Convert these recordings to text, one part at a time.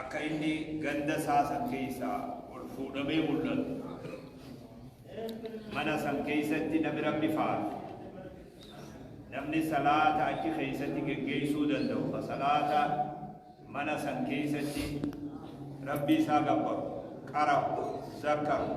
akka inni ganda isaa san keessaa ol fuudhamee mul'atu mana san keessatti namni rabbi faarsu namni salaata achi keessatti geggeessuu danda'u ka salaata mana san keessatti rabbi isaa gabbaru qarahu zakkaru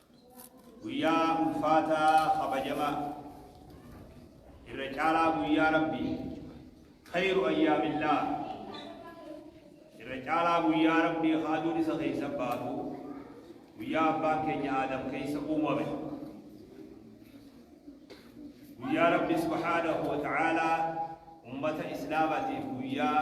Guyyaa ulfaataa kabajamaa, irra caalaa guyyaa Rabbii, khayru ayyaamillaah, irra caalaa guyyaa Rabbii ka aduun isa keessa baatu, guyyaa abbaan keenya Aadam keessa uumame. Guyyaa Rabbi subhaanahu wa ta'aalaa ummata Islaamatiif guyyaa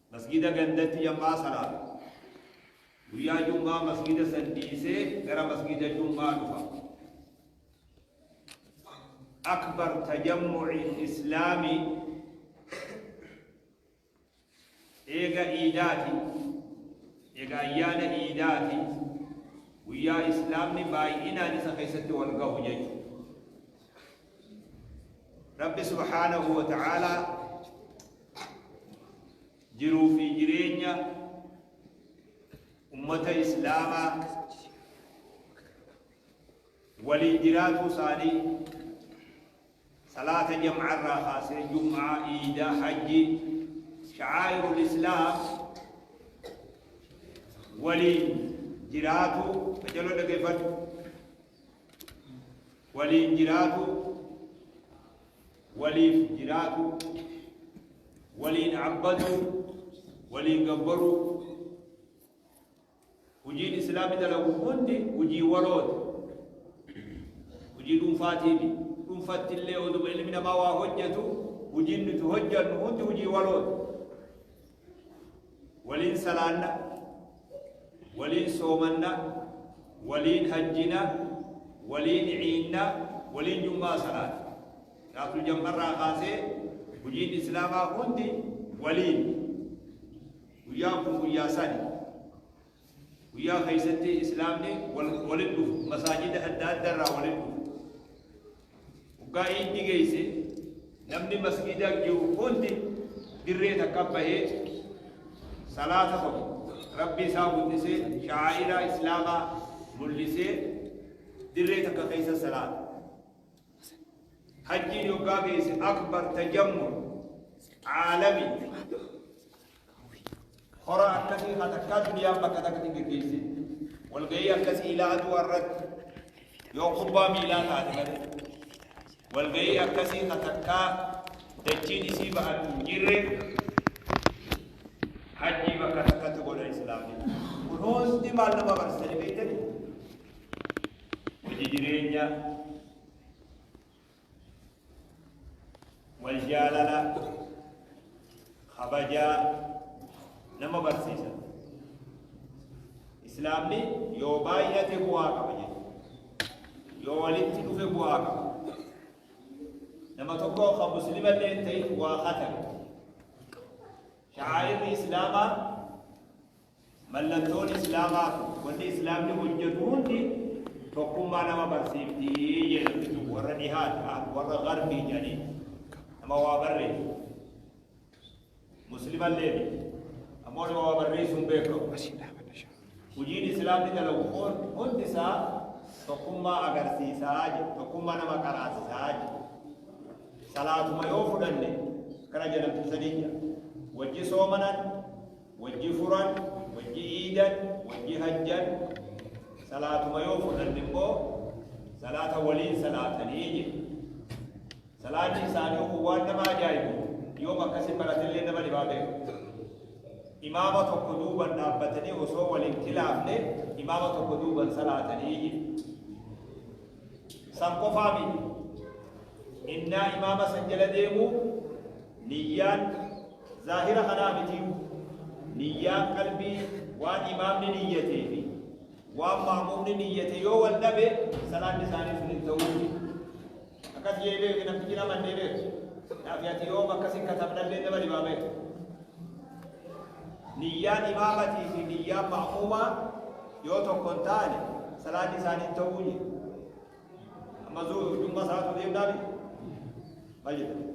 Masgiida gandatti jam'aa salaata. Guyyaa jum'aa masgiida san dhiisee gara masgiida jum'aa dhufa. Akbar tajammu'iin Islaamii eega iidaati, eega ayyaana iidaati, guyyaa Islaamni baay'inaan isa keessatti wal gahu jechuudha. Rabbi subhaanahu wa ta'aalaa jiruu fi jireenya ummata islaamaa waliin jiraatuu isaanii salaata jam'aa irraa kaasee jum'aa iidaa hajji sha'aa'irul islaam waliin jiraatuu qajaloo dhageeffadhu Waliin jiraatuu Waliif jiraatuu Waliin abbaduu Waliin gabbaruu Hujiin Islaamni dalagu hundi hujii walooti. Hujii dhuunfaatiimi. Dhuunfatti illee oduma ilmi namaa waa hojjetu hujiin nuti hojjennu hundi hujii walooti. waliin salaanna waliin soomanna waliin hajjina waliin ciinna waliin jummaa salaata shaaful jammarraa kaasee hojiin islaamaa hundi waliin guyyaan kun guyyaa sani Guyyaa keessatti Islaamni walitti dhufu, masaajida adda addaa irraa walitti dhufu. Waggaa iiddi geesse namni masgiida jiru hundi dirree takka bahee salaata qabu. Rabbi isaa guddisee sha'aa'iraa Islaamaa mul'isee dirree takka keessa salaata. Hajjiin waggaa geesse akbar tajammul caalami Hora akkasii kan takkaa duniyaan bakka takkatti hin geggeessin. Walgahii akkasii ilaa aduu irratti yoo kubbaa miilaa taate malee. Walgahii akkasii kan takkaa dachiin isii ba'atu hin jirre hajjii bakka takkatti godha islaamni. Kun hundi maal nama barsiisanii beektanii? Hojii jireenyaa wal jaalala kabajaa nama barsiisa islaamni yoo baay'ate bu'aa qaba jechuudha yoo walitti dhufe bu'aa qaba nama tokko kan muslima illee ta'e waa hatame shaa'irri islaamaa Mallattoon Islaamaa fi wanni Islaamni hojjatu hundi tokkummaa nama barsiifti jee namni tokko warra dhihaa ti ahlu warra garbii jedhaniin nama waa barreessu muslima illee miti ammoo nama waa barreessuun beekamu hojiin islaamni dalagu kun hundi isaa tokkummaa agarsiisaa je tokkummaa nama qaraasisaa je salaatuma yoo fudhanne kana jedhamtu sanii jira wajji soomanan Wajji furan, wajji iidan, wajji hajjan, salaatuma yoo fudhanne immoo salaata waliin salaatanii jedhe. Salaanni isaanii kun waan nama ajaa'ibu yoom akkasii baratillee nama dhibaa beeku. Imaama tokko duuban dhaabbatanii osoo waliin kilaafne imaama tokko duuban salaatanii jedhe. San qofaa miti. Innaa imaama san jala deemu niyyaan Zaahira kanaa mitiyu, niyyaan qalbii waan imaamni niyyatee fi waan ma'muumni niyyate yoo wal dhabe salaanni isaanii sun hin ta'uu fi akkas jee beekti namtichi nama hin beekti naaf ati yoo bakka sin katabnallee nama dhibaa beekti niyyaan imaamatii fi niyyaan ma'muumaa yoo tokko hin taane salaanni isaanii hin ta'uu jee amma zuu jumma salaatu deemnaa miti maal jedhama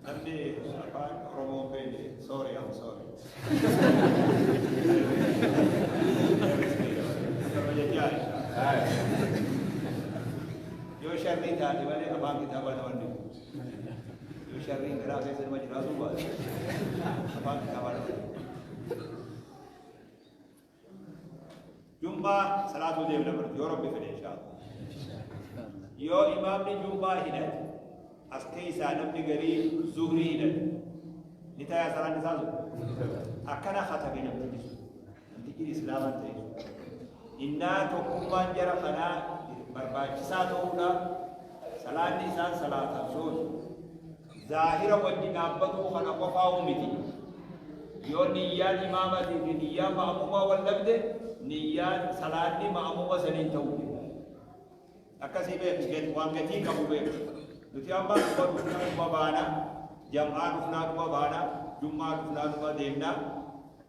Namni afaan Oromoo hin beekne sorry I'm sorry. Akkuma jechaa yoo sharrii taate malee afaan kitaabaa nama hin dhibu. Yoo sharriin garaa keessa nama jiraatuu baate afaan kitaabaa nama hin dhibu. Jum'aa salaatuu deemna baratu yoo rabbi fedhe inshaa'Allah. Yoo imaamni jum'aa hidhate as keessaa namni garii zuhrii hidhate ni tayaa salaan isaa sun akkana katabe namtichi sun namtichi islaama ta'e sun innaa tokkummaan jara kanaa barbaachisaa ta'uudha salaanni isaan salaatan sun Zaahira wajji dhaabbatuu kana qofaa'uu miti. Yoo niyyaan imaamatii fi niyyaan ma'amuumaa wal dhabde, niyyaan, salaanni, ma'amuuma saniin ta'uu dida. Akkasii beeki, gad, waan gatii qabu beeki. Nuti amma quba dhufna quba baana, jam'aa dhufnaa quba baana, jum'aa dhufnaa numa deemna.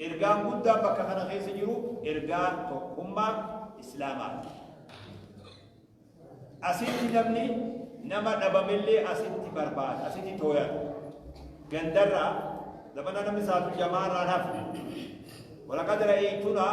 Ergaan guddaan bakka kana keessa jiru ergaa tokkummaa Islaamaati. Asitti namni nama dhabamellee asitti barbaada, asitti tooyata. Gandarraa zamana namni saatu jamaarraan hafe. Walaqad ra'aytunaa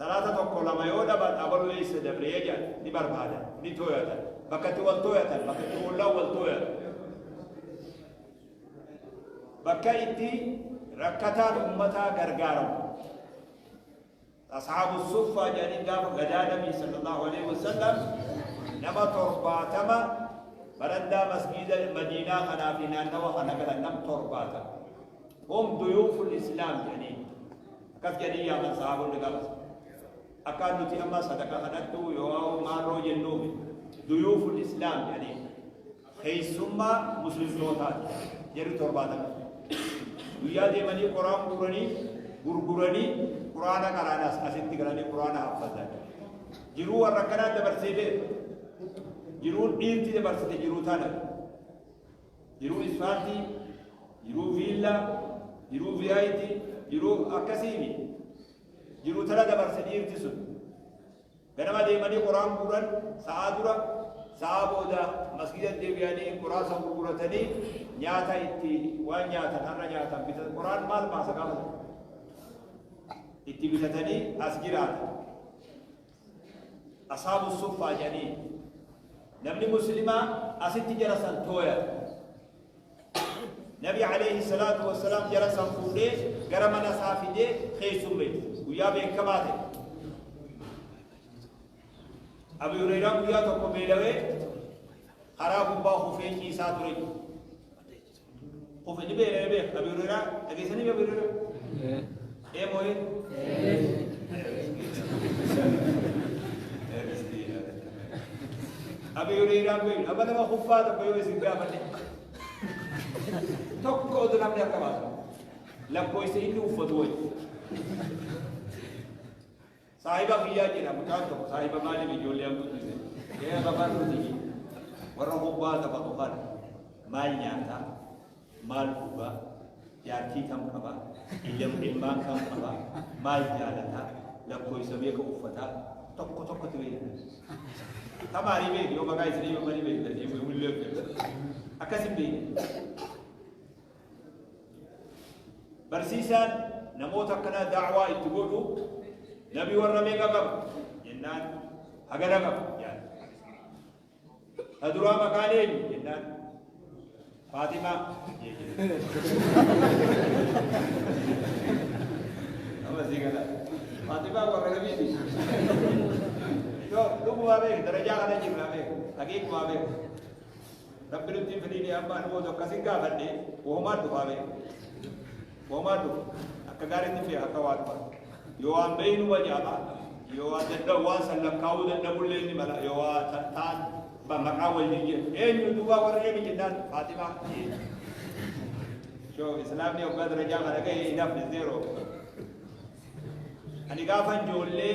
Salaata tokko lama yoo dhaban abalu eessa dabree jedhan ni barbaadan ni tooyatan bakka itti wal tooyatan bakka itti ollaan wal tooyatan bakka itti rakkataan ummataa gargaaramu asxaabu suffaa jedhanii gaafa gadaa nabii sallallahu alaihi wasallam nama torbaatama barandaa masgiida madiinaa kanaa fi naannawa kana galan nam torbaatama Hum duyuuful islaam jedhanii akkas jedhanii yaaman sahaabonni gaafas. Akkaan nuti amma sadaqa kadhadhu yoo maarroo jennuufi duyuuful islaam jedhanii keessummaa muslimtootaati jedhu torbaatama. Guyyaa deemanii qoraan guuranii gurguranii quraana qaraanas asitti galanii quraana haffatan. Jiruu warra akkanaa dabarsee beeku. Jiruun dhiirti dabarsite jiruu taana. Jiruu ispaartii, jiruu viillaa, jiruu VIP, jiruu akkasii mi? Jiruu tana dabarse dhiirti sun. Ganama deemanii qoraan guuran sa'aa dura, sa'aa booda masgiida deebi'anii qoraa san gurguratanii nyaata itti waan nyaatan har'a nyaatan bitatan qoraan maal baasa gaafa itti bitatanii as jiraatan. Asaabu suffaa jedhaniin. Namni muslimaa asitti jara san tooyata. Nabi alayhi salaatu wassalaam jara san fuudhee gara mana isaa fidee keessummeesse. Guyyaa beekamaa ta'e. Abu Hurairaan guyyaa tokko beelawee karaa gubbaa kufee ciisaa ture. kufe ni beela ni beeka abi hurera dhageessanii abi hurera ee mooyee abi hurera beelu amma nama kuffaa tokko yoo isin gaafate tokko otu namni akka baasu lakkoofsa inni uffatu wajji Saahiba kiyyaa jedha mucaan tokko saahiba maaliif ijoollee an guddise ee babarruti warra hobbaa taphatu kana maal nyaataa maal dhugaa jaartii kam qabaa iyyam ilmaan kam qabaa maal jaalataa lakkoofsa beeka uffataa tokko tokko ture tamaarii beeku yoo maqaa isinii yoo manii beektan yoo mullee akkasi beeku Barsiisaan namoota akkanaa daawaa itti godhu namni warra meeqa qaba jennaan hagana qaba yaada. Ta duraa maqaan eenyu jennaan Faatimaa Amma sii gala. Faatimaa warra namiiti. Yoo dhugumaa beeku darajaa kana jirraa beeku haqiiqumaa beeku. Rabbi nutti hin fidini amma ani booda akkas hin gaafadhe wahumaan dhufaa bee wahumaan dhufa akka gaariitti hin beeka akka waa dhufa yoo waan beeynu ma jaaba yoo waan dadhabu waan san lakkaa'uu dadhabullee ni mala yoo waa tattaan ba maqaa wal jijjiirtu eenyu duuba warra eemi jennaan faatimaa shoo islaamni hoggaa darajaa kana ga'e hin hafne zeeroo ani gaafan ijoollee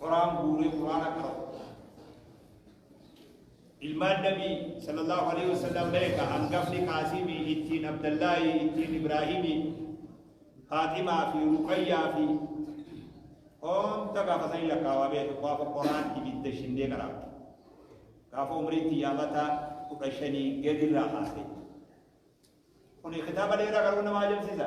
Qoraan guuree Qur'aana qara'u. Ilmaan Nabi sallallahu alaihi wasallam beeka hangafni Qaasimi ittiin Abdallahi ittiin Ibraahimi Faaximaa fi Ruqayyaa fi hunda gaafa san lakkaawaa beeka gaafa qoraan ibidda shindee qaraabde. Gaafa umrii xiyyaamata kudha shanii gadirraa haase. Kuni kitaaba dheeraa garuu nama ajabsiisa.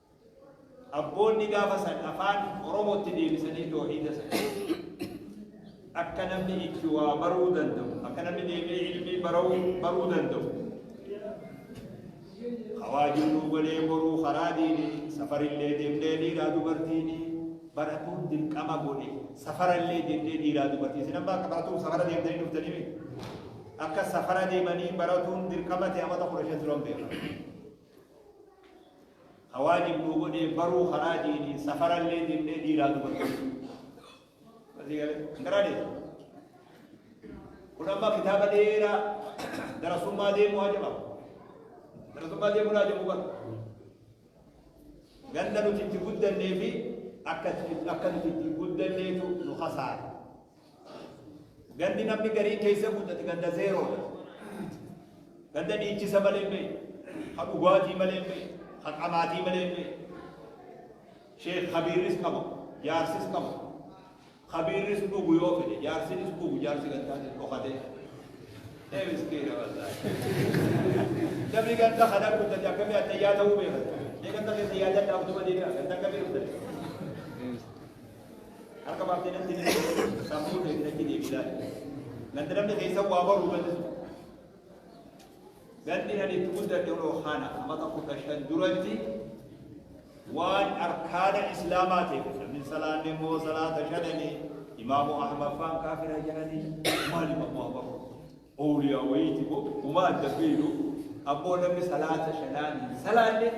Abboonni gaafa san afaan Oromootti deebisanii toohiida san akka namni itti waa baruu danda'u, akka namni deebi'ee ilmii baruu baruu danda'u. Hawaajin nuu golee boruu karaa diini safarillee deemnee dhiiraa dubartiini baratuun dirqama godhe safarallee deemnee dhiiraa dubartii isin amma akka baratuun safara deemtanii dhuftanii miti. Akka safara deemanii baratuun dirqama ta'e amata kudha shan turan beekan. Ka waajib nuu godhee baruu karaa diiniin safarallee deemnee dhiiraa dubartii. Asii galee hin garaa deemu. Kun amma kitaaba dheeraa darasummaa deemuu haa jedhamu. Darasummaa deemuu haa jedhamu bara. Ganda nuti itti guddannee fi akka itti- akka nuti itti guddanneetu nu hasaara. Gandi namni gariin keessa guddate ganda zeeroodha. Ganda dhiichisa malee hin beekne, ha dhugaatii malee hin beekne, ha qamaatii malee hin beekne. Sheekh Kabiirris qabu, jaarsis qabu. Kabiirris dhugu yoo fedhe, jaarsinis dhugu, jaarsi gantaanis dhokatee. Ee miskiina wallaahi. Namni ganda kana guddate akkamii addayyaa ta'uu beekata. Ee ganda keessa yaadadhaa utuma deebi'aa, ganda akkamii guddate. Harka baaftee natti ni deebiin sammuu ta'e natti deebii laali. Gandi namni keessa waa baruu bal'isu. Gandi ani itti guddadhe oloo kana amata kudha shan duratti waan arkaana islaamaa ta'e namni salaanne immoo salaata shanani imaamu ahmad faan kaafira jedhani maali imaamu ahmad Owliyaa wayiiti bo uma adda beeynu ammoo namni salaata shanaan hin salaanne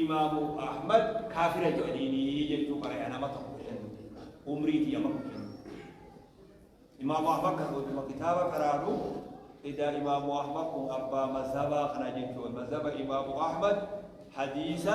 imaamu ahmad kaafira je'aniini jechuu qaraya nama tokko shan umrii tiyya amma kudha shan imaamu ahmad kan oduma kitaaba qaraanu ida imaamu ahmad kun abbaa mazhabaa kana jechuu mazhaba imaamu ahmad hadiisa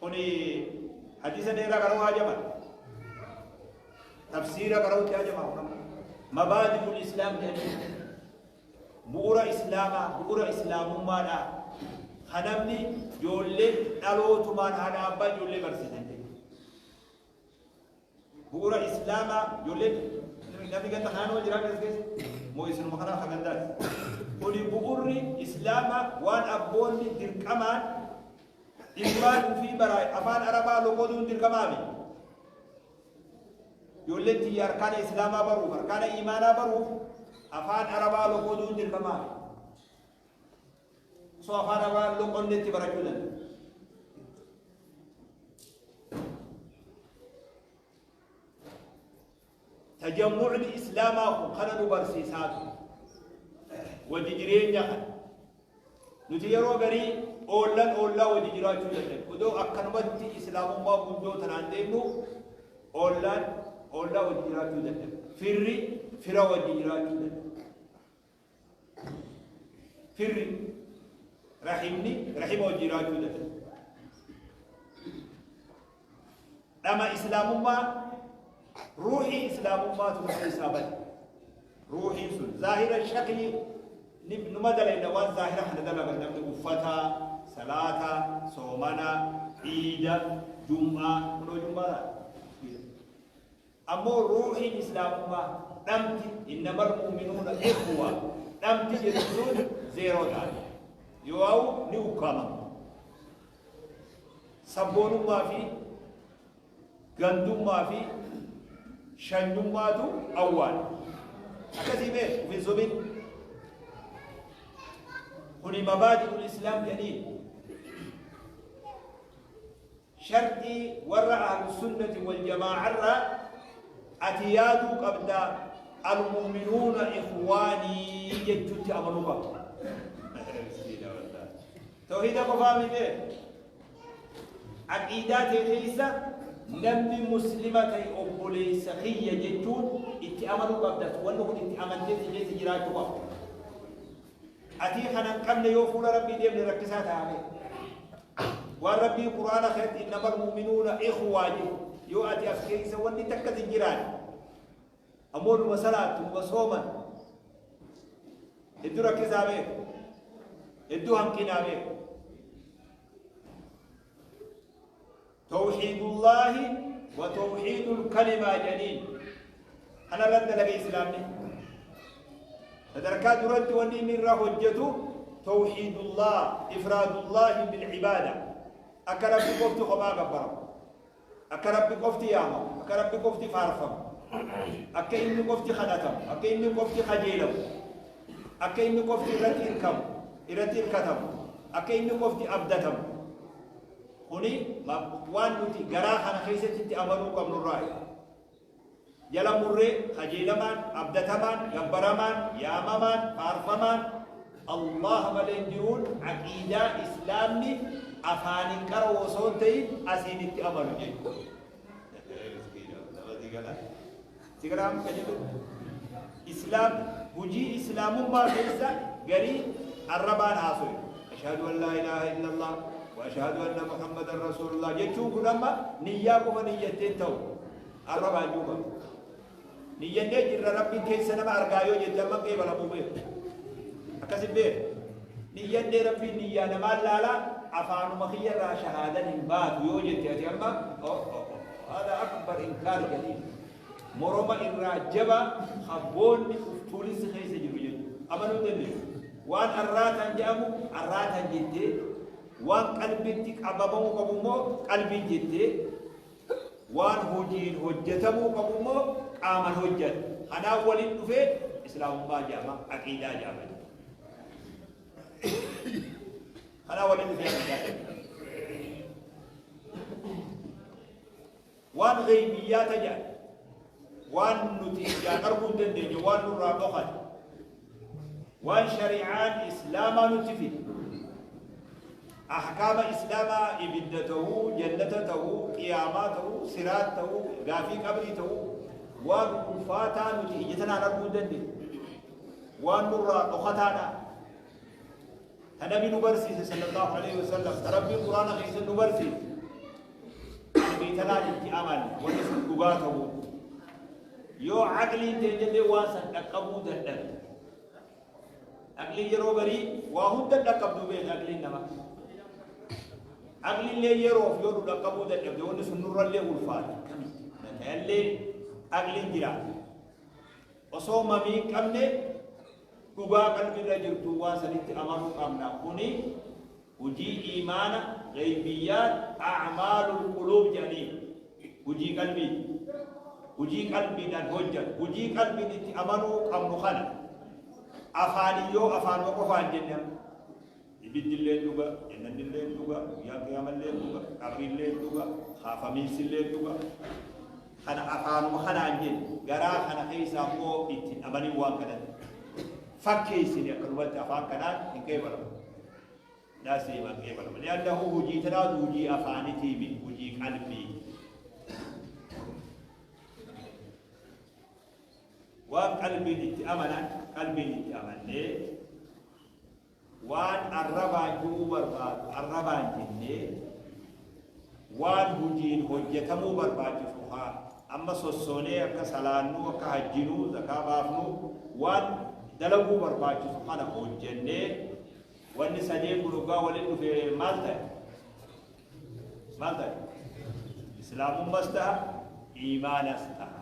Kuni hadiisa dheeraa qara'uu hajama. Tafsiira qara'uutti hajama. Mabaadibul Islaam jedhanii bu'uura Islaamaa bu'uura Islaamummaadha. Kanamni ijoollee dhalootumaan haadha abbaa ijoollee barsiisan. Bu'uura Islaamaa ijoolleen namni ganda kanaa nama jiraate as keessa moo isinuma kanaa akka gandaati. Kuni bu'uurri Islaamaa waan abboonni dirqamaan ilmaan ofii baraa afaan Arabaa loqoduun dirqamaami. Ijoolleen tiyya arkaana Islaamaa baruuf arkaana imaanaa baruuf afaan Arabaa loqoduun dirqamaami. So afaan amaa loqonni itti barachuu danda'a. Tajammucni Islaamaa kun kana nu barsiisaa ture. Wajji jireenya kana. Nuti yeroo garii oollan oollaa wajji jiraachuu danda'e. Odoo akkanumatti Islaamummaa guddoo tanaan deemnu oollaan oollaa wajji jiraachuu danda'e. Firri fira wajji jiraachuu danda'e. Firri rahimni rahima wajjin jiraachuu danda'a. Dhama islaamummaa ruuhii islaamummaa tuuta isaa bade. Ruuhiin sun zaahira shakli numa dalayna waan zaahira kana dalagan namni uffata, salaata, soomana, ciida, jum'aa, kunoo jum'aa Ammoo ruuhiin Islaamummaa dhamti, innamal mu'minuuna ikhwa, dhamti jettu sun zeeroo taati. Yooauu ni ukkaamama. Sabboonummaa fi gandummaa fi shanyummaatu awwaala. Akkasii mee uf hin sobin. Kuni mabaadi'ul Islaam jedhaniin. Sharxii warra Ahlussunnati wal jamaa'arraa ati yaaduu qabda Almu'minuuna ikhwaanii jechuutti amanuu qabda. Miskiina wallaahi. Tawhiida qofaa mitee? Aqiidaa ta'e keessa namni muslima ta'e obboleessa kiyya jechuun itti amanuu qabda. Wanni kun itti amantee si keessa jiraachuu qabda. Atii kana hin qabne yoo fuula Rabbii deemne rakkisaa ta'a mee. Waan Rabbii Qur'aana keessatti innamal mu'minuuna ikhwaa jedhu yoo ati as keessa wanni takkas hin jiraanne ammoo numa salaatu numa sooman hedduu rakkisaa mee hedduu hanqinaa mee. Towhiidullaahi wa towhiidul kalimaa jedhaniin. Kana irratti dalaga Islaamni. Sadarkaa duratti wanni inni irraa hojjetu towhiidullah ifraadullaahi bil ibaada. Akka Rabbi qofti kophaa gabbaramu. Akka Rabbi qofti yaamamu. Akka Rabbi qofti faarfamu. Akka inni qofti kadhatamu. Akka inni qofti kajeelamu. Akka inni qofti irratti hirkamu. Irratti hirkatamu. Akka inni qofti abdatamu. Kuni waan nuti garaa kana keessatti itti amanuu qabnu irraayi. Jala murree kajeelamaan, abdatamaan, gabbaramaan, yaamamaan, faarfamaan Allaah malee jiruun aqiidaa Islaamni afaaniin qara'u osoo hin ta'in asiin itti amanu jechuudha. Sigaraa muka jedhu Islaam hujii Islaamummaa keessa garii arrabaan haasoyu. Ashhadu an laa ilaaha illallah wa ashhadu anna Muhammadan Rasuulullah jechuun kun amma niyyaa qofa niyyatteen ta'u arrabaan duuba. Niyyannee jirra Rabbiin keessa nama argaa yoo jette amma qeebalamuu beeku. Akkasi beeku. Niyyannee Rabbiin niyyaa namaan laalaa afaanuma kiyyarraa shahaadan hin baatu yoo jette ati amma oh oh oh hada akbar inkaar jedhiin. Moroma irraa jabaa ka boolli uf tuulinsi keessa jiru jechu. Amanuu hin dandeessu. Waan arraataan jedhamu arraataan jettee, waan qalbitti qabamamuu qabu immoo qalbiin jettee, waan hojiin hojjatamuu qabu immoo qaaman hojjata. Kanaan waliin dhufee Islaamummaa jedhama, aqiidaa jedhama. Kanaan waliin dhufee aqiidaa jedhama. Waan ghaybiyyaa ta jedhan, waan nuti ijaan arguu hin dandeenye, waan nurraa dhokate, waan shari'aan Islaamaa nutti fide, ahkaama Islaamaa ibidda ta'uu, jannata ta'uu, qiyaamaa ta'uu, siraat ta'uu, gaafii qabrii ta'uu, waan ulfaataa nuti ija tanaan arguu hin dandeenye, waan nurraa dhokataadha. Ta Nabi nu barsiise sallallahu alaihi wasallam ta Rabbiin Qur'aana keessa nu barsiise qalbii tanaan itti aman wanni sun dhugaa ta'u yoo aqliin teenyallee waan san dhaqqabuu dadhabe aqliin yeroo garii waa hunda dhaqqabdu beekna aqliin nama aqlillee yeroof yoo nu dhaqqabuu dadhabde wanni sun nurrallee ulfaata akkamitti natayallee aqliin jiraata osoo mamii hin qabne Dhugaa qalbii irra jirtu waan sanitti amanuu qabna. Kuni hujii iimaana, ghaybiyyaat, a'maalul quluub jedhaniin. Hujii qalbiiti. Hujii qalbiidhaan hojjatu. Hujii qalbiin itti amanuu qabnu kana. Afaaniin yoo afaanuma qofaan jenne amma. Ibiddilleen dhuga, jannannilleen dhuga, guyyaan qiyaamalleen dhuga, qabrilleen dhuga, kaafamiinsilleen dhuga. Kana afaanuma kanaan jenna. Garaa kana keessaa immoo itti hin amanin waan kanatti. Fakkeessine akkanumatti afaan kanaan hin qeebalamu. Daasee hin qeebalamu. Li'annahu hojii tanaatu hojii afaanitii miti hojii qalbii. Waan qalbiin itti amanan qalbiin itti amannee Waan arrabaan du'uu barbaadu arrabaan jennee, waan hujiin hojjatamuu barbaachisu ka amma sossoonee akka salaannuu, akka hajjinuu, zakaa baafnuu, waan dalaguu barbaachisu kana hojjannee, wanni sadeen kun hoggaa walitti dhufee maal ta'e? Maal ta'e? Islaamummas taha, iimaanas taha.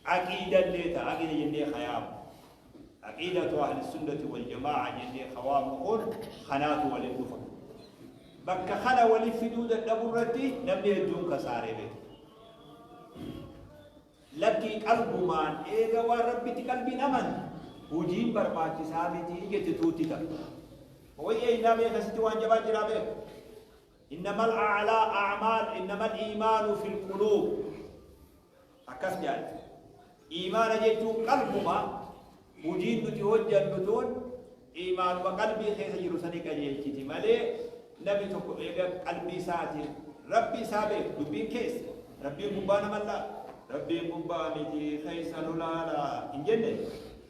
Aqiida illee ta Aqiida jennee ka yaamnu. Aqiidatu Ahlissunnati wal Jamaa'a jennee ka waamnu kun kanaatu walin dhufa. Bakka kana wali fiduu dadhabu irratti namni hedduun kasaaree beekta. Lakkii qalbumaan eega waan Rabbitti qalbiin amante hujiin barbaachisaa miti jette tuutti takka. Wayya innaa beeka sitti waan jabaa jiraa beeka. Innamal a'laa a'maal innamal iimaanu fil quluub. Akkas jaatti, Iimaana jechuun qalbuma, hujiin nuti hojjannu tun iimaanuma qalbii keessa jiru sani qajeelchiti malee namni tokko eega qalbii isaatiin Rabbi isaa beeku, dubbiin keessa, Rabbiin gubbaa nama laala, Rabbiin gubbaa miti keessa nu laala hin jenne.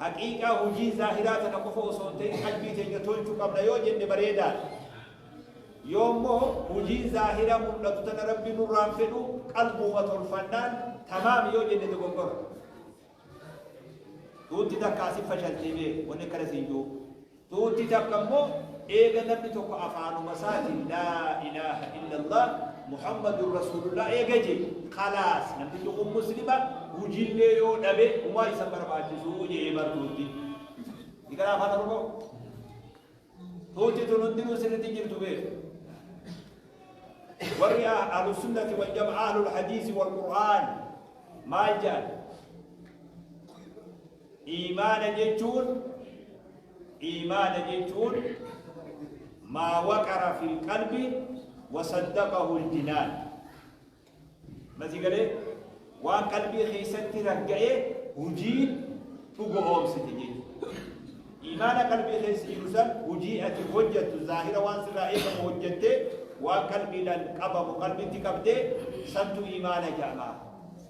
Haqiiqaa hujii zaahiraa tana qofa osoo hin ta'in qalbii teenya tolchu qabna yoo jenne bareedaadha. Yoo immoo hujii zaahira mul'atu tana Rabbi nurraa hin fedhu qalbuuma tolfannaan tamaam yoo jenne dogoggora. Tuutti takka asin fashaltee beeki wanni akkana siin jiru. Tuuti takka immoo eega namni tokko afaanuma isaatiin laa ilaaha illallah Muhammadun Rasuulullah eega jee khalaas namtichi kun Muslima hujiillee yoo dhabe humaa isa barbaachisu jee bar tuuti. Hikara afaan Oromoo tuuti tun hundinuu sirriitti jirtu beeku. warri ahlu sunnati wal jamaa ahlul hadiisi wal qur'aan maal jedhan Iimaana jechuun Iimaana jechuun maa waqara fil qalbi wa saddaqahul jinaan Ma si galee? Waan qalbii keessatti ragga'ee hujiin dhugo'oomsite jechuudha. Iimaana qalbii keessa jiru san hujii ati hojjattu zaahira waan sirraa eegamu hojjattee waan qalbiidhaan qabamu qalbitti qabdee santu iimaana jedhama.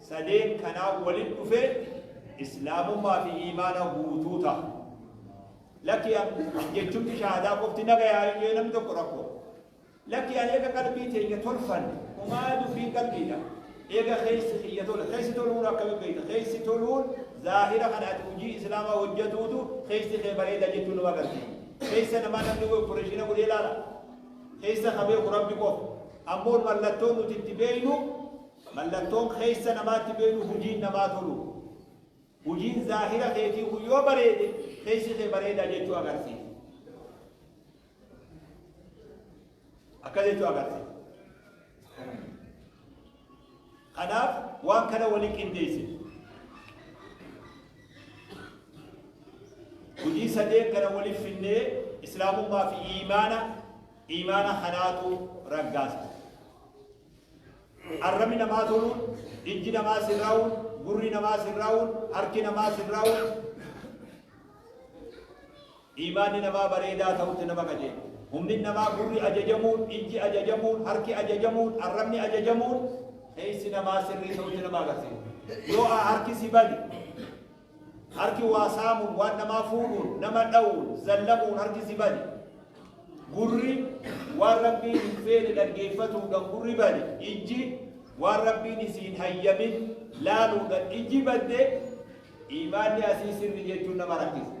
sadeen kanaa walit dhufe islaamummaa fi iimaana guutuu taha. Lakki an jechumti shahaadaa qofti na gayaa yoo jedhe namni tokko rakkoo. Lakki an eega qalbii teenya tolfan umaa dubbiin qalbiidha. Eega keessi kiyya tole keessi toluun akkami beekta keessi toluun zaahira kan ati hojii islaamaa hojjetuutu keessi kee bareeda jechuun nama agarsiisa. Keessa namaa namni wayii opereeshina godhee ilaala. Keessa qabee kun rabbi qofa. Ammoo mallattoon nuti itti beeknu Mallattoon keessa namaatti beeynu hujiin namaa toluu. Hujiin zaahira keetii kun yoo bareede keessi kee bareeda jechuu agarsiisa. Akka jechuu agarsiisa. Kanaaf waan kana waliin qindeessine. Hojii sadeen kana waliin finnee islaamummaa fi iimaana iimaana kanaatu raggaasa. Arrabni namaa toluun, ijji namaa sirraa'uun, gurri namaa sirraa'uun, harki namaa sirraa'uun, iimaanni namaa bareedaa ta'utti nama qajeelcha. Humni namaa gurri ajajamuun, ijji ajajamuun, harki ajajamuun, arrabni ajajamuun keessi namaa sirrii ta'utti nama agarsiisa. Yoo harki si bade, Harki waa saamuun, waan namaa fuudhuun, nama dhawuun, zallamuun harki si bane. Gurri waan Rabbiin hin feene dhaggeeffatuudhan gurri bade. Ijji waan Rabbiin isii hin hayyamin laaluudhan ijji badde. Iimaanni asii sirri jechuun nama rakkisa.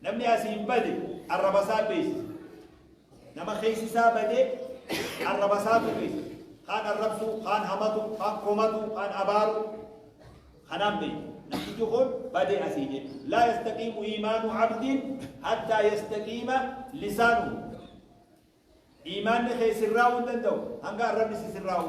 Namni asiin bade arrabasaa beeksisa. Nama keessi isaa badee arrabasaatu beeksisa. Kaan arrabsuu, kaan hamatu, kaan komatu, kaan abaaru. Kanaan beeku. Namtichi kun badee asii jedhu. Laa yastaqiimu iimaanu abdiin hattaa yastaqiima lisaanu. Iimaanni kee sirraa'uu hin danda'u hanga arrabni si sirraa'u.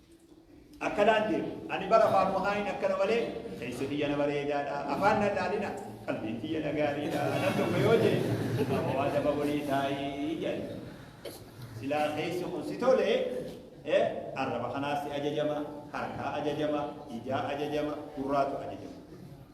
akkanaan jee ani bara afaan wahaayin akkana malee keessa biyya na bareedaadha afaan na dhaalina qalbiin biyya na gaariidha nan tokko yoo jee amma waa daba walii taa'ii jedhe silaa keessa kun si tole eh, arraba kanaas si ajajama harkaa ajajama ijaa ajajama gurraatu ajajama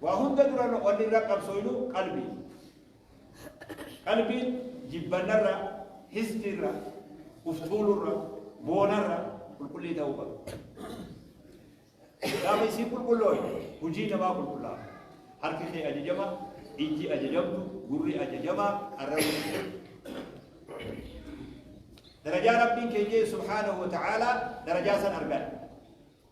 Waa hunda dura wanni irra qabsooynu qalbii. Qalbiin jibbannarra, hisdiirra, uf tuulurra, boonarra qulqullii ta'uu qabdi. Gaafa isiin qulqullooyne hujii namaa qulqullaa'a. Harki kee ajajama, ijji ajajamtu, gurri ajajama, arrabni ajajama. Darajaa Rabbiin keenya subhaanahu wa ta'aalaa darajaa san arganna.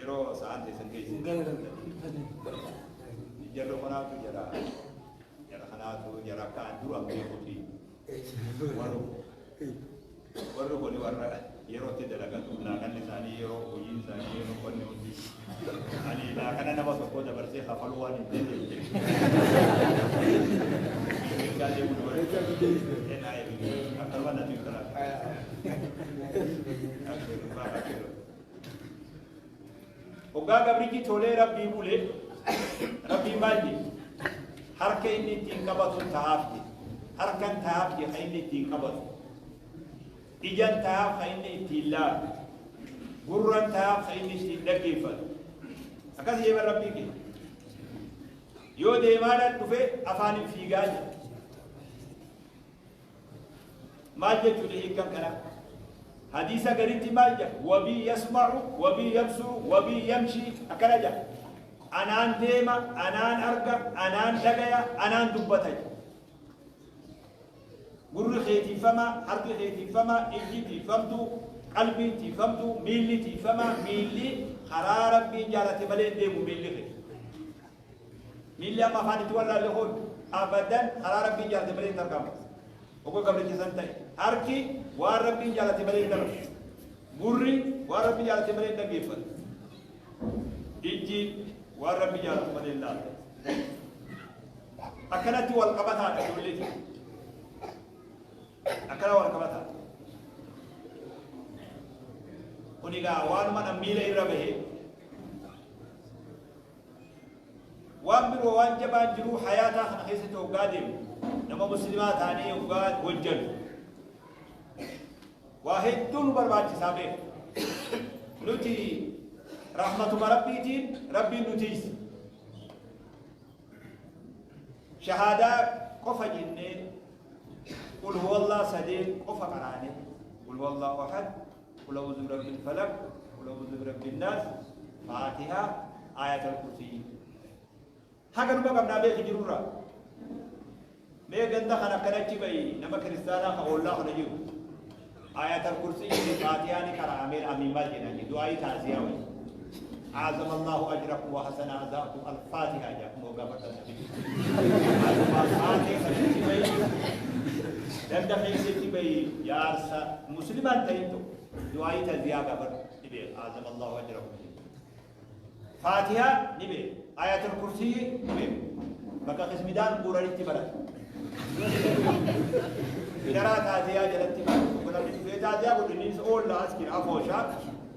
Yeroo sa'aan teessan geesse. Jarri kanaatu jara jara kanaatu jara akka dura beekuti. Warri warri kun warra yerootti dalagatu laakanni isaanii yeroo hojiin isaanii yeroo qonni hundi ani laakana nama tokko dabarsee kafaluu waan hin dandeenye. Gaalee kun warri NIF akkanuma natti hin taraa. Hoggaa gabrichi tolee rabbii bulee rabbiin maal jedhe harka inni ittiin qabatu ta'aaf jedhe harkan ta'aaf jedhe kan inni ittiin qabatu ijan ta'aaf kan inni ittiin laalu gurran ta'aaf kan inni ittiin dhaggeeffatu akkas jedhe rabbii kee yoo deemaadhaan dhufe afaaniin fiigaa jedhe Maal jechuudha hiikan kanaa? Hadiisa garitti maal jedha? Wabii yasma'u, wabii yabsuru, wabii yamshi akkana jedha. Anaan deema, anaan arga, anaan dhagaya, anaan dubbata jedha. Gurri kee tiifamaa, harki kee tiifamaa, ijji tiifamtuu, qalbiin tiifamtuu, miilli tiifamaa, miilli karaa rabbiin jaalate malee hin deemu miilli kee. Miilli amma kaanitti wallaalle kun abadan karaa Rabbiin jaalate malee hin tarkaanfatu. Hogga gabricha san ta'e. Harki waan Rabbiin jaalate malee hin dalagu. Gurri waan Rabbi jaalate malee hin dhaggeeffatu. Ijji waan Rabbi jaalatu malee hin laalu. Akkanatti wal qabataadha ijoollee kee. Akkana wal qabataa. Kun egaa waanuma dhan miila irra bahee Waan biroo waan jabaan jiruu hayaataa kana keessatti hoggaa deemu nama muslimaa taanee hoggaa hojjannu waa hedduu nu barbaachisaa beeku nuti rahmatuma rabbiitiin rabbiin nu tiise shahaadaa qofa jennee qul huwallah sadeen qofa qaraane qul huwallahu ahad Qul a'uuzu birabbil falaq, qul a'uuzu birabbin naas, faatiha, aayatal kursiyyi. Haga numa qabnaa beeki jirurraa. Mee ganda kan akkana achi ba'i nama kiristaanaa kan ollaa kana jiru. Aayatal kursiyyi fi faatihaa ni qara'amee amiin maal jedhanii du'aayii taasiyaa wayii. Aazama Allaahu ajrakum wa hasana azaakum al-faatiha jedha kun hoggaa fardaan dhabe. Aazama faatee sanitti bahee danda keessatti bahee jaarsa muslimaan ta'in tokko du'aayii taziyaa gaafadhu ni beeku aazama Allaahu ajrakum jedha. Faatiha ni beeku ayatul kursiyyi ni beeku bakka qismidaan guuranitti barata. Idaraa taatee yaa jalatti barata. Kun abdi dhufee taatee yaa godhu innis oolla as kira afoo shaaka.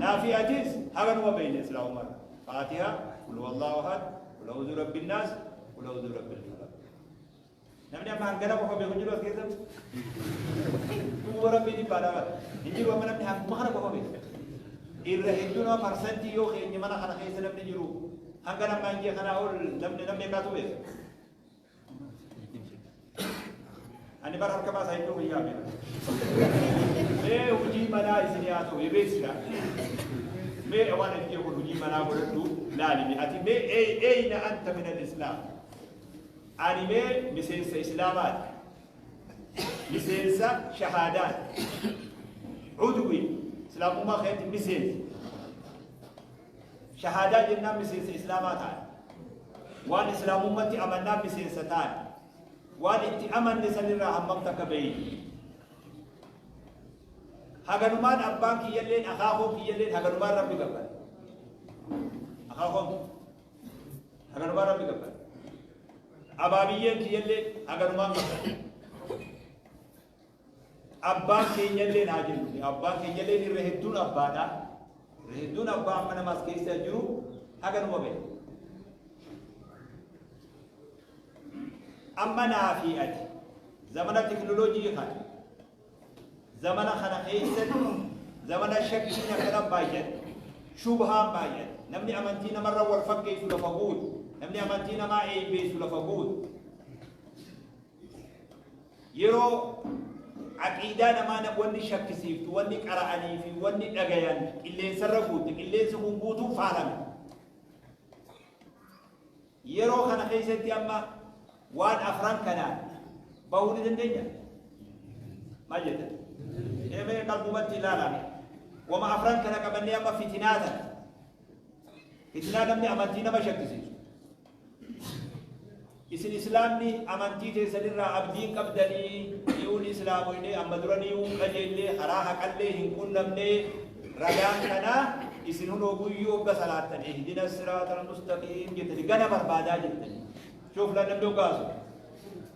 Naafii atis haga numa beeyne silaa umar faatiha kul wallahu ahad kul a'udhu rabbin naas kul a'udhu rabbil falaq namni amma hangana qofa beeku jiru as keessa duuba rabbii dhibbaa dhabata hin jiru amma namni hanguma kana qofa beeku irra hedduu nama parsantii yoo keenya mana kana keessa namni jiru hanga nama hin jee kanaa ol namni namni akkaatu beeku Ani bara harka baasaa iddoo guyyaa beeku. Mee hojii manaa isin yaa ta'u ebeessina. Mee waan ani jedhu hojii manaa godhadhu laalimi. Ati mee ee ee na anta min al-islaam. Ani mee miseensa islaamaati. Miseensa shahaadaati. Udwi islaamummaa keessatti miseensa. Shahaadaa jennaan miseensa Islaamaa taane. Waan Islaamummatti amannaan miseensa taane. Waan itti amanne sanirraa hammam takka beeyne. Haganumaan abbaan kiyyalleen akaakoon kiyyalleen haganumaan rabbi gabbara. Akaakoon haganumaan rabbi gabbara. Abaabiyyeen kiyyallee haganumaan gabbara. Abbaan keenyalleen haa jennu. Abbaan keenyalleen irra hedduun abbaadha. Irra hedduun abbaa amma nama as keessa jiru haga numa ba'e. Amma naa fi ati zamana teknolojii kana zamana kana keessatti zamana shakkiin akkana baay'ate shubhaan baay'ate namni amantii namarra wal fakkeessu lafa guutu namni amantii namaa eebbeessu lafa guutu Yeroo aqiidaa namaa wanni shakkisiiftu, wanni qara'anii fi wanni dhagayan qilleensarra guutte, qilleensi kun guutuu faalame. Yeroo kana keessatti amma waan afran kanaan bahuu ni dandeenya? Maal jettan? Eemee qalbumatti ilaalame. Wama afran kana qabannee amma fitinaa tana. Fitinaa namni amantii nama shakkisiisu. Isin Islaamni amantii teessan irraa abdii hin qabdanii? Niyuun Islaamoynee amma dura niyuun qajeellee karaa haqallee hin qunnamnee ragaan kanaa isin hunoo guyyuu hogga salaattan ihdina siraatal mustaqiim jettanii gana barbaadaa jirtanii. Shooflaan namni hoggaasu.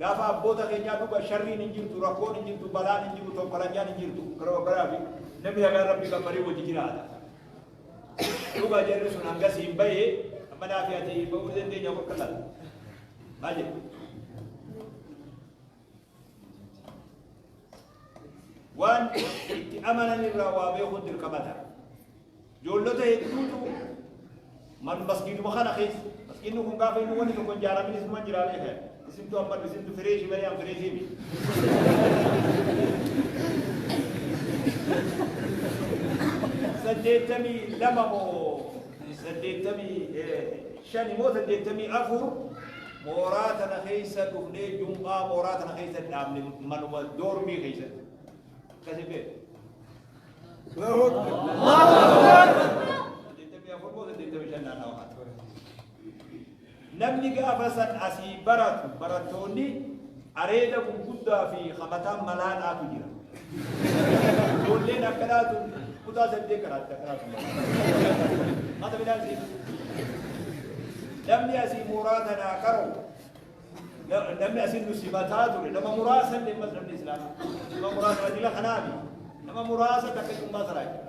Gaafa abboota keenyaa dhuga sharriin hin jirtu, rakkoon hin jirtu, balaan hin jiru, tonkolanyaan hin jirtu. Garuu abbaraami namni nagaan rabbi gabbaree wajji jiraata. Dhuga jarri sun hangas hin bahee amma naa fi ati bahuu dandeenya bakka sana. Maal jedhu? Waan itti amanan irraa waa beekuun dirqama ta'a. Ijoollota hedduutu man masgiiduma kana keessa masgiidni kun gaafa inni wanni tokko ijaaramin isuma jiraa beekan isintu amma isintu fireeshi malee an fireeshii miti. saddeettamii lama moo saddeettamii shani moo saddeettamii afur mooraa tana keessa dhufnee jum'aa mooraa tana keessa dhaabne manuma doormii keessatti akkasi beeku. Namni gaafa san asii baratu barattoonni areeda gurguddaa fi hamataan malaa dhaatu jira. Ijoolleen akka dhaatu kutaa saddeet karaatti akka dhaatu. Mata midhaan siin. Namni asii mooraa tanaa qaroo Namni asin nu simataa ture nama muraasa illee ammas namni islaama nama muraasa rajula kanaafi nama muraasa takka cummaa saraa jira.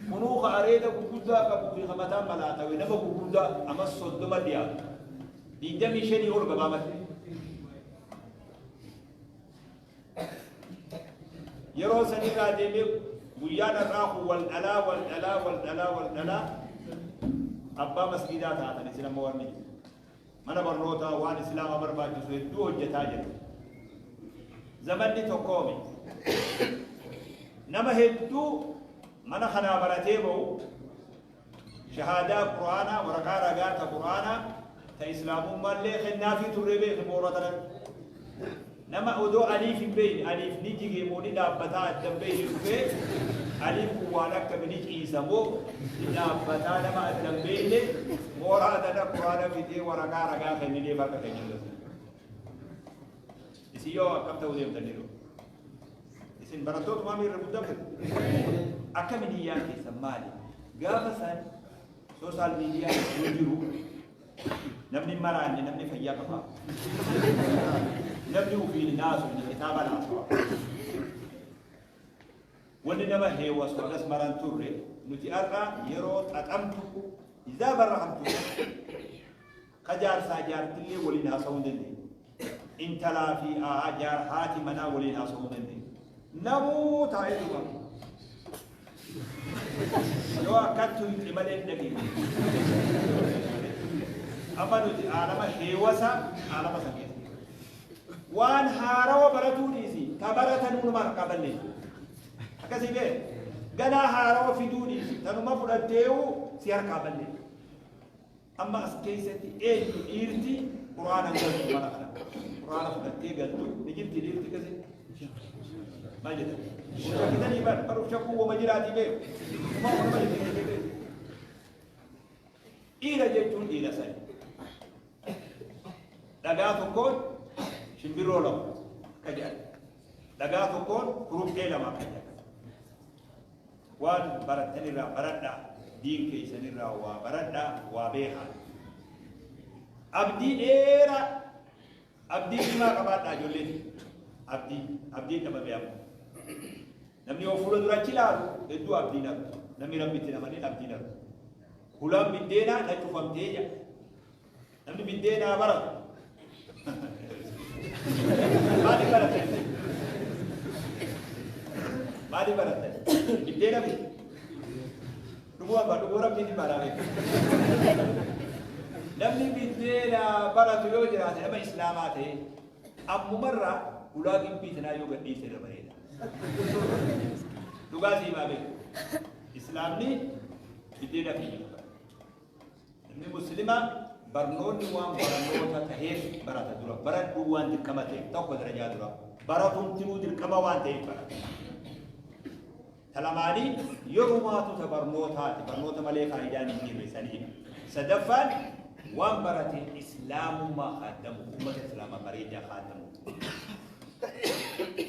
Kunuu ka areeda gurguddaa qabu fi hamataa malaatawe nama gurguddaa ammas soddoma dhiyaatu. Digdamii shanii ol gabaabate. yeroo sanirraa deemee guyyaan har'aa kun wal dhalaa wal dhalaa wal dhalaa wal dhalaa abbaa masgiidaa taatan isin amma wanni mana barnootaa waan islaama barbaachisu hedduu hojjetaa jirtu zamanni tokkoomi nama hedduu mana kanaa baratee ba'u Shahaadaa Qur'aanaa, waraqaa ragaa ta Qur'aanaa, ta Islaamummaallee kennaafii turre beekhi boora tanatti. Nama odoo Aliif hin beeyne, Aliif ni jigee moo ni dhaabbataa adda hin beeyne dhufee, Aliin kun waan akkami ni ciisa moo ni dhaabbataa nama adda hin beeyne, mooraa tana Qur'aana fidee waraqaa ragaa kennineef harka keenya irratti. Isin yoo akkam ta'uu deemtan ni dhufu. Isin barattoota maamii irra guddamte akkamiin hiyyaan keessan maali? Gaafa san soosaal miidiyaa yoo jiru namni hin maraanne namni fayyaa qaba. Namni ofiin hin haasofne kitaaba laafaa. Wanni nama heewasu akkas maraan turre nuti har'a yeroo xaxamtu izaa barra hamtu Ka jaarsaa jaartillee waliin haasawuu hin dandeenye. Intalaa fi haati manaa waliin haasawuu hin dandeenye. Namuu taa'ee duuba. Yoo akkan tuyxe malee hin dhageenye. Amma nuti aalama heewasa aalama san keessa. Waan haarawa baratuu dhiisi. Ta baratan hunuma harkaa balleessu. Akkasii bee ganaa haarawa fiduu dhiisi. Tanuma fudhatteewu si harkaa balleessu. Amma as keessatti eenyu dhiirti quraana galtu mana kana? Quraana fudhattee galtu ni jirti dhiirti kasi? Maal jedhan? Shakkitanii bar baruuf shakkuu wama jiraatii beeku. Kuma wama jiraatii beeku. Dhiira jechuun dhiira sani. Dhagaa tokkoon shimbirroo lama akka jedhan. Dhagaa tokkoon kuruphee lama akka jedhan. Waan barattan irraa baradhaa, diin keessan irraa waa baradhaa, waa beekaa. Abdii dheeraa, abdii cimaa qabaadhaa ijoollee fi abdii, abdiin dhabame amma. Namni yoo fuula dura achi ilaalu hedduu abdiin argu. Namni rabbitti hin amanin abdiin argu. Hulaan biddeenaa na cufamtee jedha. Namni biddeenaa bara. Maali barate? Maali barate? Biddeena bite. Dhuguu abbaa dhuguu rabbiin hin baaraame. Namni biddeena baratu yoo jiraate nama islaamaa ta'e ammumarraa ulaa gibbii tanaa yoo gadhiise irra bareeda. Dhugaa siimaa beeku. Islaamni biddeena fi Ilmi Muslimaa barnoonni waan barnoota taheef barata dura. Baradhuu waan dirqama ta'eef tokko darajaa dura. Baratuun tiruu dirqama waan ta'eef barata. Talamaanii yerumaatu ta barnootaati. Barnoota malee faayidaan hin jirre saniidha. Sadaffaan waan barate islaamummaa kaaddamu, uummata islaamaa bareedaa kaaddamu.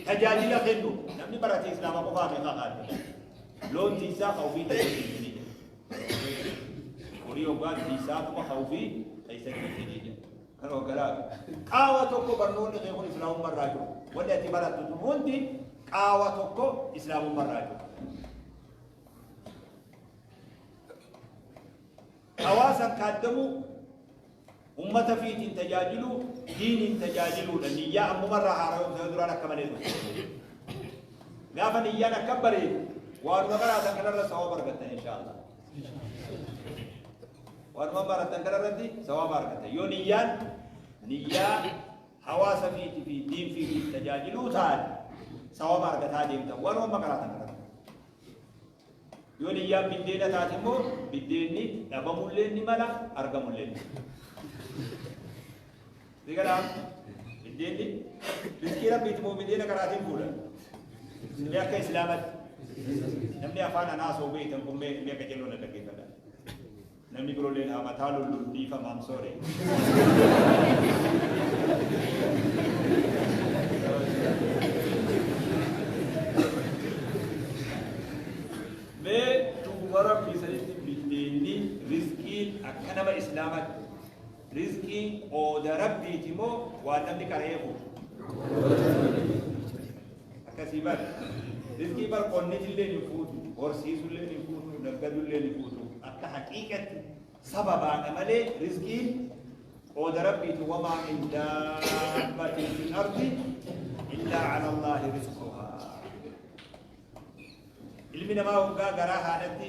Tajaajila kennu namni barate islaama qofaa meeqa kaaddamu. Loon tiisaa ka ofii tajaajilanii. Horii hoggaa dhiisaa kuma ka'uu fi keessa dhiisanii jira. Kan hoggalaa qaawa tokko barnoonni kee kun islaamummaa irraa jiru. Wanni ati barattu sun hundi qaawa tokko islaamummaa irraa jiru. Hawaasan kaaddamuu Ummata fiitiin tajaajiluu diiniin tajaajiluudha. Niyyaa ammuma irraa haara'uun yoo duraan akka malee ture. Gaafa niyyaan akka bareedu waanuma qaraatan kanarra sawaaba argattan inshaallah. Waanuma barattan kanarratti sawaaba argattan. Yoo niyyaan niyyaa hawaasa fiitii fi diin fiitiif tajaajiluu taate sawaaba argataa deemtan waanuma qaraatan kanarratti. Yoo niyyaan biddeena taate immoo biddeenni dhabamulleen ni mala argamulleen ni Si galaa? Biddeenni rizqii rabbiiti moo biddeena karaatiin fuudha? Mee akka islaamatti namni afaan anaa soobee itan kun mee mee akka jennuun dhaggeeffadha. Namni birolleen haa mataa lullu dhiifama I'm sorry. Mee dhuguma rabbi isanitti biddeenni riskiin akka nama islaamaatti Rizqiin qooda Rabbiiti moo waan namni qara'ee fuudhu? Akkasii bar. Rizqii bar qonnitillee ni fuutu, horsiisullee ni fuutu, naggadullee ni fuutu. Akka haqiiqatti sababaadha malee rizqiin qooda Rabbiiti wamaa min daabbatin fil ardi illaa ala Allaahi rizquhaa. Ilmi namaa waggaa garaa haadhatti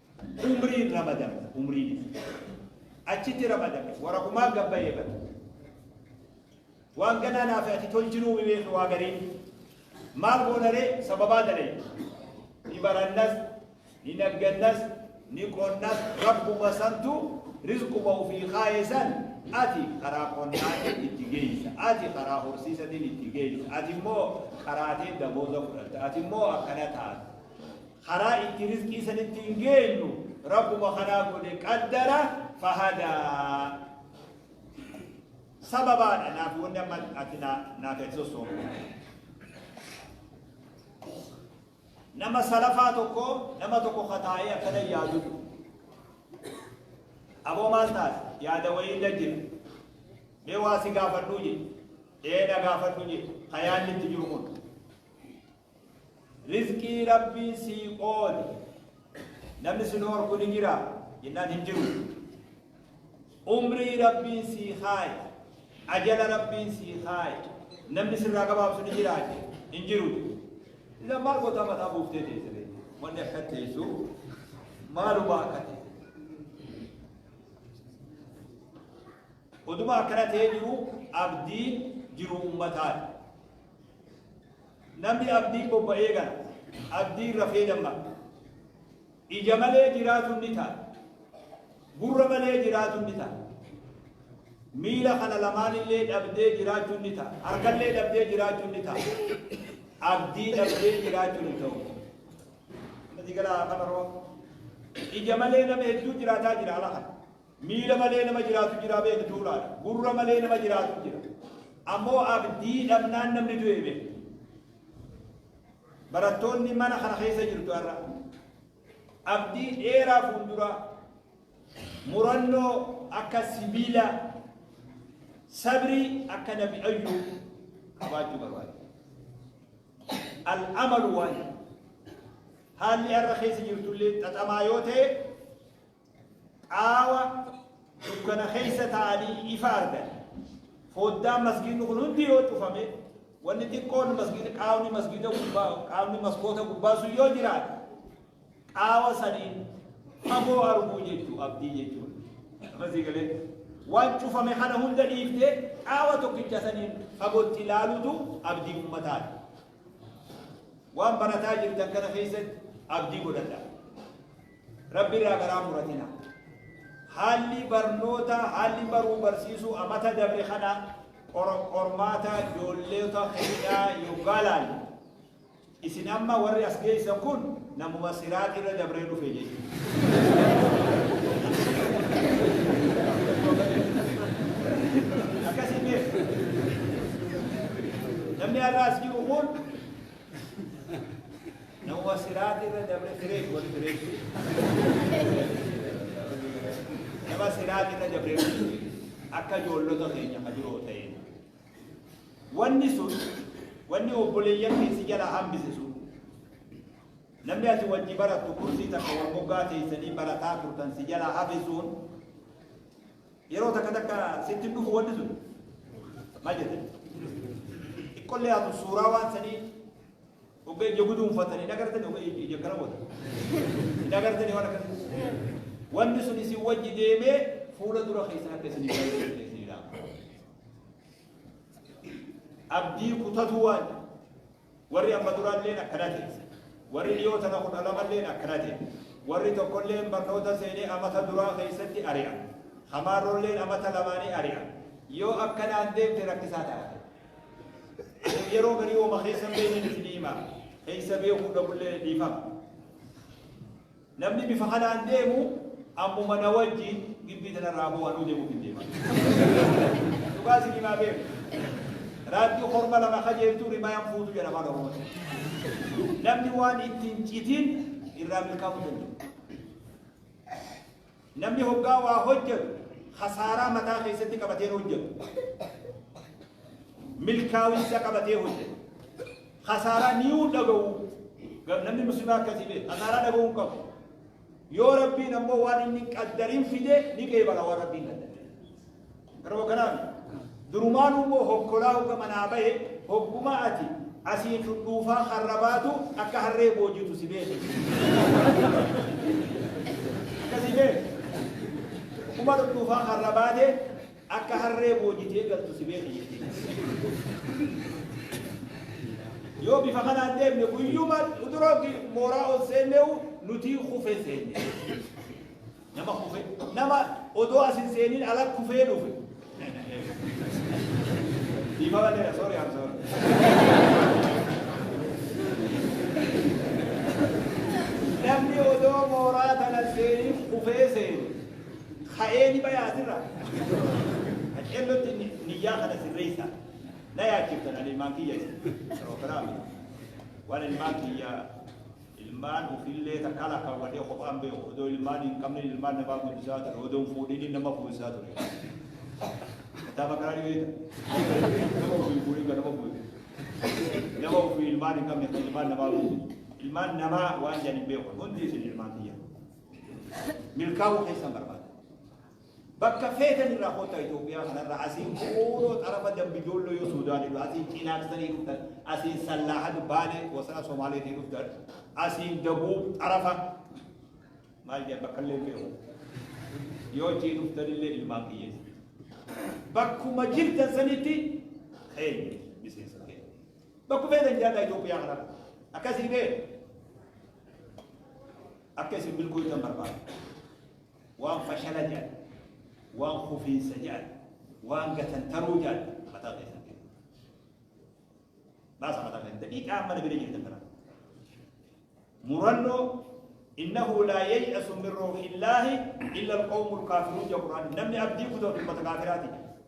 Umriin ramadame. Umriin isa. Achitti ramadame. Waraqumaan gabbayee bada. Waan ganaa naaf ati tol jiruu mimee fi waa gariin. Maal goonaree sababaa dalee. Ni barannas, ni naggannas, ni qonnas rabbuma santu rizquma ofii kaa'e san ati karaa qonnaatiin itti geessa. Ati karaa horsiisatiin itti geessa. Ati immoo karaatiin dabooza fudhatta. Ati immoo akkana taata. karaa itti rizqii san ittiin geenyu rabbuma kanaa godhe qaddara fahadaa sababaadha naaf wanni amma ati naa- naaf hin sossoofne nama salafaa tokko nama tokko kataa'ee akkana yaadu aboo maal taate yaada wayii irra jira mee waa si gaafadhuu jedhe ee na gaafadhu jedhe ka yaadni itti jiru kun Rizqii Rabbiin sii qoode namni si dhoorku ni jira jennaan hin jiru. Umrii Rabbiin sii kaaye, ajala Rabbiin sii kaaye namni sirraa gabaabsu ni jira hin jiru. Isan maal gootaa mataa buuftee teessiree wanni akka teessu maaluma akka ta'e. Oduma akkana ta'ee jiru abdiin jiru ummataati. Namni abdiin bobba'ee gala, abdiin rafee dammaqa. Ija malee jiraatuun ni ta'a, gurra malee jiraatuun ni ta'a. Miila kana lamaan illee dhabdee jiraachuun ni ta'a, harka illee dhabdee jiraachuun ni ta'a. Abdii dhabdee jiraachuun hin ta'u. Namni gala kabaroo ija malee nama hedduu jiraataa jira ala kana. Miila malee nama jiraatu jiraa beekta tuulaadha. Gurra malee nama jiraatu jira. Ammoo abdii dhabnaan namni du'e beekta. Barattoonni mana kana keessa jirtu har'a. Abdii dheeraa fuulduraa murannoo akka sibiila sabrii akka nabi ayyuu qabaachuu barbaada. Al-amalu waan haalli har'a keessa jirtullee xaxamaa yoo ta'e Qaawa dukkana keessa taa'anii ifa argan. Foddaan masgiidni kun hundi yoo cufame, wanni xiqqoon masgiida qaawni masgiida gubbaa qaawni maskoota gubbaa sun yoo jiraate qaawa saniin fagoo arguu jechuu abdii jechuun. Amasii galee waan cufame kana hunda dhiiftee qaawa tokkicha saniin fagootti ilaalutu abdii ummataati. Waan barataa jirtan kana keessatti abdii godhadha. Rabbi irraa garaa muratina. Haalli barnoota, haalli baruu barsiisuu amata dabre kana qor- qormaata ijoolleota keenyaa yoggaa laalu. Isin amma warri as geessan kun namuma siraat irra dabree dhufe jechuudha. Akkasii beeku. Namni har'a as jiru kun Nawwa siraati irra dabre fireesh wali fireesh. Nama siraati irra dabre akka ijoollota keenya ka jiroo ta'e. Wanni sun wanni obboleeyyan keessi jala hambise sun namni ati wajji barattu kursii takka wal moggaa teessanii barataa turtan si jala hafe sun yeroo takka takka sitti hin dhufu wanni sun maal jette? Xiqqollee atu suuraa waan sanii Ogga ija guduunfatan hin agartani ogga ija ija kana wata. Hin agartani waan akkasii. Wanni sun isin wajji deemee fuula dura keessan akka isin hin agartani isin ilaala. Abdii kutatu waan warri amma duraalleen akkana ta'e. Warri dhiyoo tana kudha lamalleen akkana ta'e. Warri tokkolleen barnoota seenee amata duraa keessatti ari'a. Hamaarolleen amata lamaanii ari'a. Yoo akkanaan deemte rakkisaa ta'a. Yeroo garii hooma keessa hin beekne isinii hima. Keessa beekuu dhabullee dhiifama. Namni bifa kanaan deemu ammuma na wajjin gibbii tanarraa boo anuu deemuuf hin deema. Dhugaa isin himaa beeku. Raaddiin horma lama kajeeltuu rimayaan fuutu jedha afaan Oromootti. Namni waan ittiin citiin irraa milkaa'uu danda'u. Namni hoggaa waa hojjatu khasaaraa mataa keessatti qabateen hojjatu. Milkaawinsa qabatee hojjatu. Khasaaraa niyuu dhaga'u. Namni muslimaa akkasii beeku. Khasaaraa dhaga'uu hin qabu. Yoo Rabbiin ammoo waan inni hin qaddariin fide ni qeebala waan Rabbiin qaddare. Yeroo kanaan durumaan immoo hokkolaa hogga manaa bahe hogguma ati asiin dhudhuufaa harra baatu akka harree boojitu si beeke. Akkasii bee kuma dhudhuufaa harra baate akka harree boojitee galtu si beeke jechuudha. Yoo bifa kanaan deemne guyyuma uturooti mooraa ol seenneewu nuti kufee seenne. Nama kufe, nama odoo as hin seenin ala kufee dhufe. Dhiifama dheera, sorry, I'm sorry. Namni odoo mooraa tana seenin kufee seenu, ka'ee ni bayaa asirra. Qaceellotti ni- niyyaa kana sirreessa. Na yaachiftan ani ilmaan kiyya. Prograami. Waan ilmaan kiyya Ilmaan ufiillee takkaa lakkaawwadhee kophaan beeku. Odoo ilmaan hin qabne ilmaan namaa guddisaa ture. Odoo hin fuudhiniin nama fuusisaa ture. Kitaaba kanaa ni beekta. Nama ofii hin fuudhin kan nama fuudhe. Nama ofii ilmaan hin qabne kan ilmaan namaa fuudhe. Ilmaan namaa waan jedhan hin beeku. Hundi isin ilmaan kiyya. Milkaa'uu keessan barbaada. Bakka feetan irraa kottaa Itoophiyaa kanarra asiin Quuroo xarafa Dambi Doolloo yoo Suudaan irra asiin Cinaaksanii dhuftan asiin Sallaahad Baalee wasana Somaaleetii dhuftan asiin Dabuub xarafa maal jedhan bakka illee beeku yoo achii dhuftan illee ilmaan kiyyeessa bakkuma jirtan sanitti keenya miseensa keenya bakku feetan jiraadhaa Itoophiyaa kanarra akkasii bee akka isin milkooytan barbaada. Waan fashala jedhan, waan kufiinsa jedhan, waan gatantaruu jedhan mataa keessan keessa. Baasa mataa keessan daqiiqaa amma nabila jirtan kana. Murannoo innahu laa yay'asu min ruuhillaahi illa alqawmu alkaafiruun jedha Qur'aanni. Namni abdii kutu ummata kaafiraati.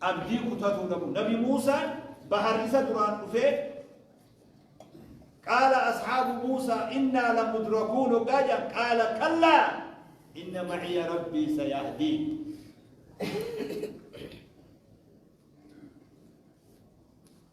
Abdii kutatuu dhabuu. Nabi Muusaan bahar isa duraan dhufee qaala ashaabu Muusaa innaa lamudrakuun hoggaa jedhan qaala kallaa inna maciya rabbii sayahdiin.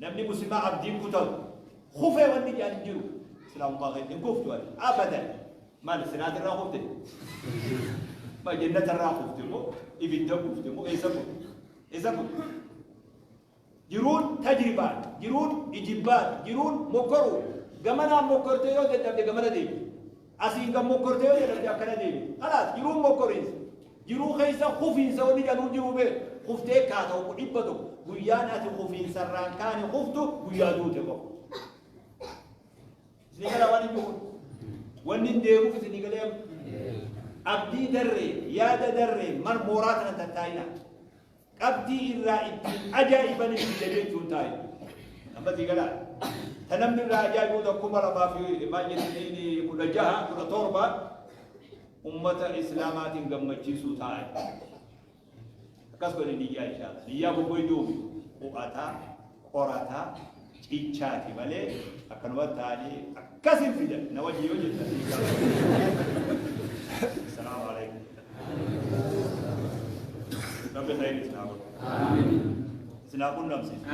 Namni muslimaa abdiin kutatu kufee wanni jedhan hin jiru. Islaamummaa keessa hin kuftu ati abadan. Maal siraati irraa kufte? Ma jennata irraa kufte moo ibidda kufte moo eessa kufte? Eessa kufte? Jiruun tajribaan, jiruun ijibbaan, jiruun mokkoruu gamanaan mokkortee yoo dadhabde gamana deemte. Asiin kan mokkorte yoo jedhamte akkana deebiti. Kalaas jiruu hin mokkoriinsa. Jiruu keessa kufiinsa wanni jedhamu jiruu bee kuftee kaa tokko dhibba tokko guyyaan ati kufiinsarraan kaane kuftu guyyaa duute qofa. Isin gara waan hin jiru. Wanni hin deemuuf isin galee abdii darree yaada darree mal mooraa kana tattaa'ina. Qabxii irraa ittiin ajaa'ibanis biyya jechuun taa'e. Amma sii galaa. Ta namni irraa ajaa'ibuu ta kuma lamaa fi maal jedhanii kudha jaha kudha torba ummata islaamaatiin gammachiisuu taa'e. Akkas godhe niyyaa ishaa. Niyyaa bobboo iyyuu u'ataa qorataa cichaati malee akkanuma taa'anii akkas hin fidan na wajjin yoo jettan ni gaafatu. Salaamu alaikum. Rabbi ta'e isin haa godhu. Isin haa qunnamsiisu.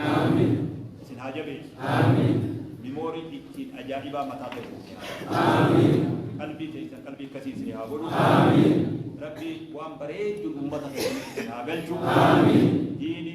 Isin haa jabeessu. Mimoorii ittiin ajaa'ibaa mataa ta'e. Qalbii teessan qalbii akkasii isin haa godhu. Rabbi waan bareedu uummata keessatti isin haa galchu. Diini